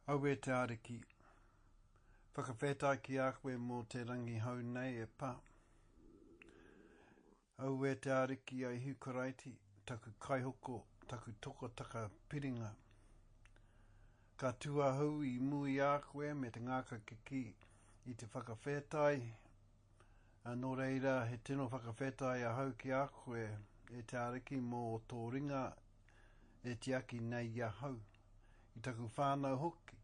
Aue te Ariki, whakawhetai ki a koe mō te rangi hou nei e pa. Aue te Ariki a Ihu Karaiti, taku Kaihoko, taku tokotaka piringa. Ka tu ahau i mu i a koe me te ngāka kikī, i te whakawhetai Nō reira, he tino whakawhetai ahau ki a koe, e te Ariki, mō tō ringa e tiaki nei i ahau, i taku whānau hoki.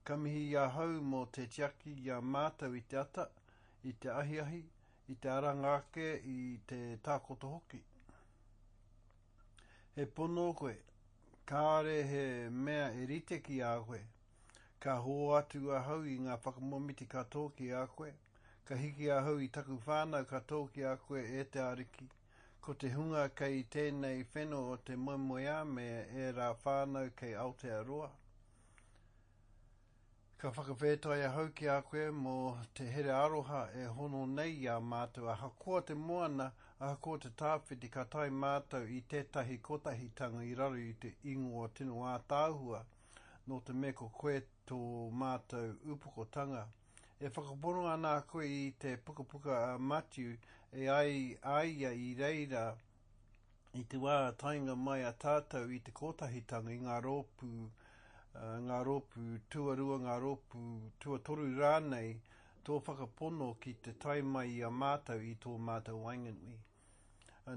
Ka mihi i ahau mō te tiaki i a mātou i te ata, i te ahiahi, i te aranga ake, i te takoto hoki. He pono koe, kāore he mea e rite ki a koe, Ka hōatu ahau i ngā whakamomiti ka tō ki a koe, ka hiki ahau i taku whānau ka tō ki a koe e te Ariki, ko te hunga kei tēnei wheno o te moemoeā me ērā whānau kei Aotearoa. Ka whakawhētai ahau ki a koe mō te here aroha e hono nei i a mātou ahakoa te moana, ahakoa te tāwhiti ka tae mātou i tētahi kotahitanga i raro i te ingoa tino ātaahua, Nō te mea ko koe tō mātou upokotanga, e whakapono ana koe i te Pukapuka a Matiu, e ai a ia i reira i te wā taenga mai a tātou i te Kotahitanga, i ngā rōpū, ngā rōpū tuarua, ngā rōpū tuatoru rānei, tō whakapono ki te tae mai i a mātou i tō mātou waenganui.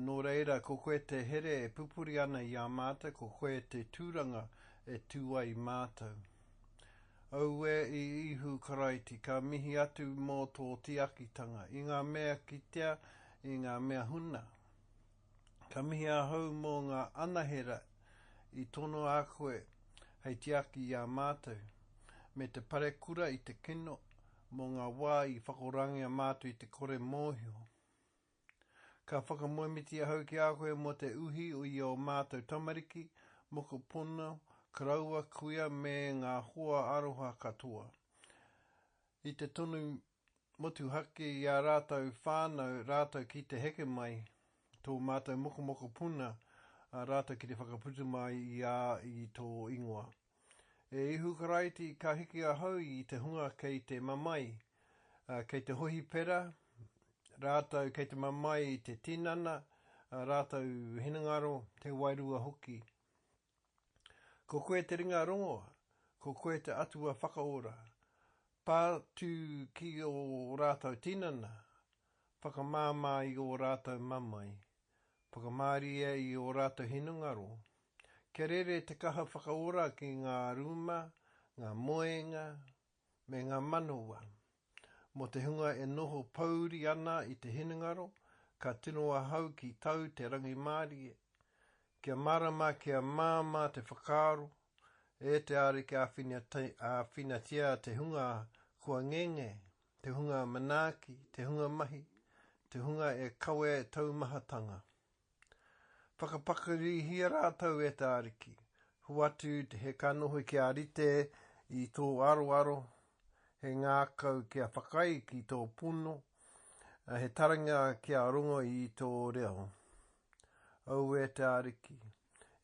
Nō reira, ko koe te here e pupuri ana i a mātou, ko koe te tūranga e tū ai i mātou. Auē i Īhu Karaiti, ka mihi atu mō tō tiakitanga, i ngā mea kitea, i ngā mea huna. Ka mihi ahau mō ngā anahera i tonoa a koe hei tiaki i a mātou, me te parekura i te kino mō ngā wā i whakorangia mātou i te kore mōhio. Ka whakamoemiti ahau ki a koe mō te uhi i ō mātou tamariki, mokopuna, karaua, kuia me ngā hoa aroha katoa. I te tonu motuhake i ā rātou whānau rātou ki te heke mai, tō mātou mokomokopuna rātou ki te whakaputu mai i a i tō ingoa. E Ihu Karaiti, ka hiki ahau i te hunga kei te mamae, ā, kei te hohipera, rātou kei te mamae i te tinana, ā rātou hinengaro, te wairua hoki. Ko koe te ringa rongoa, ko koe te Atua whakaora. Pā tū ki ō rātou tinana, whakamāmā i ō rātou mamae, whakamārie i ō rātou hinengaro, Kia rere te kaha whakaora ki ngā rūma, ngā moenga, me ngā manawa. Mō te hunga e noho pōuri ana i te hinengaro, ka tino ahau ki tau te rangimārie. Kia mārama, kia māmā te whakaaro, e te Ariki āwhinatia te hunga kua ngenge, te hunga manaaki, te hunga mahi, te hunga e kawea e taumahatanga. Whakapakarihia rātou e te Ariki. Hoatu he kanohi kia rite i tō aroaro, he ngākau kia whakaae ki tō pono, he taringa kia rongo i tō reo. Aue te Ariki,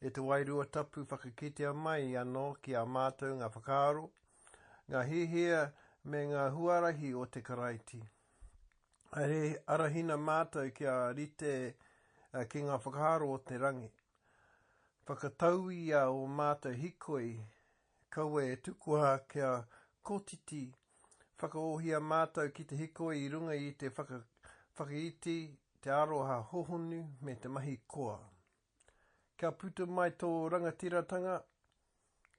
e te Wairua Tapu whakakitea mai anō ki a mātou ngā whakaaro, ngā hiahia me ngā huarahi o te Karaiti. He arahina mātou kia rite ki ngā whakaaro o te rangi. Whakatauia ō mātou hikoi, kaua e tukua kia kotiti, whakaohia mātou ki te hikoi i runga i te whakaiti, te aroha hohonu me te mahi koa. Kia puta mai tō rangatiratanga,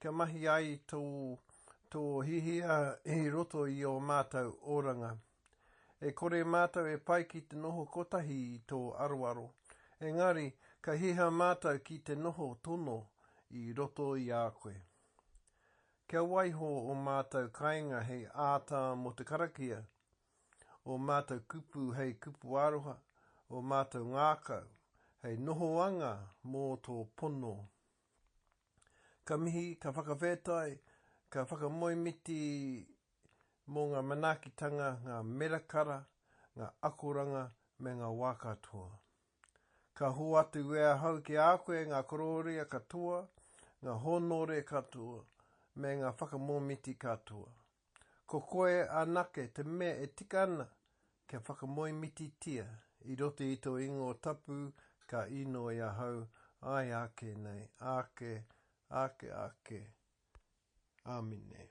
kia mahi ai tō, tō hiahia i roto i ō mātou oranga. E kore mātou e pai ki te noho kotahi i tō aroaro, engari ka hiha mātou ki te noho tono i roto i a koe. Kia waiho ō mātou kainga hei āta mō te karakia, ō mātou kupu hei kupu aroha, ō mātou ngākau hei nohoanga mō tō pono. Ka mihi, ka whakawhetai, ka whakamoemiti mō ngā manaakitanga, ngā merakara, ngā akoranga me ngā wā katoa. Ka hoatu e ahau ki a koe ngā korōria katoa, ngā hōnore katoa, me ngā whakamōmiti katoa. Ko koe anake te mea e tika ana kia whakamoemititia i roto i tō ingoa tapu ka inoi ahau, āe ake nei, ake, ake, ake. Āmine.